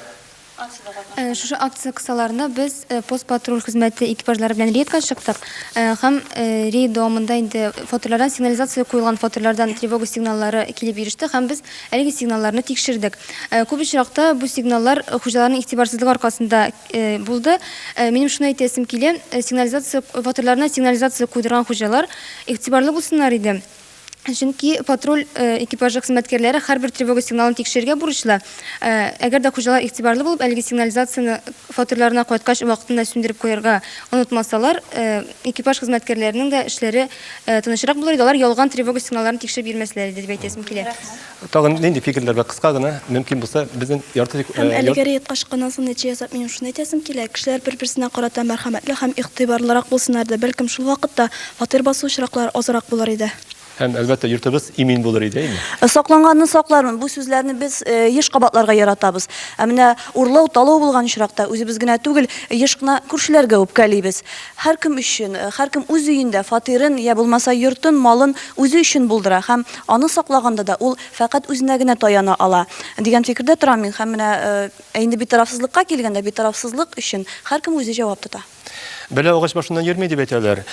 Шушы акция кысаларында без пост-патруль хезмәте экипажлары белән рейдка чыктык һәм рейд дәвамында инде фатирлардан сигнализация куелган фатирлардан тревога сигналлары килеп иреште һәм без әлеге сигналларны тикшердек. Күп очракта бу сигналлар хуҗаларның игътибарсызлыгы аркасында булды. Минем шуны әйтәсем килә, сигнализация фатирларына сигнализация куйдырган хуҗалар игътибарлы булсыннар иде. Чөнки патруль экипажы хезмәткәрләре һәрбер тревога сигналын тикшерергә бурычлы. Әгәр дә хуҗалар игътибарлы булып, әлеге сигнализацияне фатирларына кайткач вакытында сүндереп куярга онытмасалар, экипаж хезмәткәрләренең дә эшләре тынычрак булыр иде, алар ялган тревога сигналларын тикшереп йөрмәсләр иде, дип әйтәсем килә. Тагын нинди фикерләр бар? Кыска гына, мөмкин булса, безнең ярты тик... Һәм әлеге рейд качканнан соң нәтиҗә ясап, минем шуны әйтәсем килә, кешеләр бер-берсенә карата мәрхәмәтле һәм игътибарлырак булсыннар иде, бәлкем шул вакытта фатир басу очраклары азрак булыр иде. Һәм, әлбәттә, йортыбыз имин булыр иде, әйеме? Сакланганны саклармын, бу сүзләрне без еш кабатларга яратабыз. Ә менә урлау, талау булган очракта, үзебез генә түгел, еш кына күршеләргә үпкәлибез. Һәркем өчен, һәркем үз өендә фатирын, йә булмаса йортын, малын үзе өчен булдыра һәм, Аны саклаганда да ул фәкать үзенә генә таяна ала, дигән фикердә торам мин. Һәм менә ә инде битарафсызлыкка килгәндә, битарафсызлык өчен һәркем үзе җавап тота. Бәлә агач башыннан йөрми дип әйтәләр.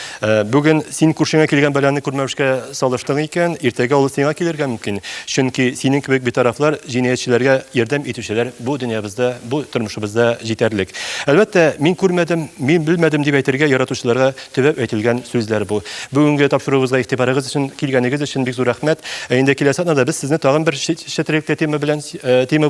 Бүген син күршеңә килгән бәланы күрмәвешкә салыштың икән, иртәгә ул сиңа килергә мөмкин. Чөнки синең кебек битарафлар, җинаятьчеләргә ярдәм итүчеләр бу дөньябызда, бу тормышыбызда җитәрлек. Әлбәттә, мин күрмәдем, мин белмәдем дип әйтергә яратучыларга Төбәп әйтелгән сүзләр бу. Бүгенге тапшыруыбызга игътибарыгыз өчен, килгәнегез өчен бик зур рәхмәт. Ә инде киләсе атнада без сезне тагын бер чет, чет тема белән, э, тема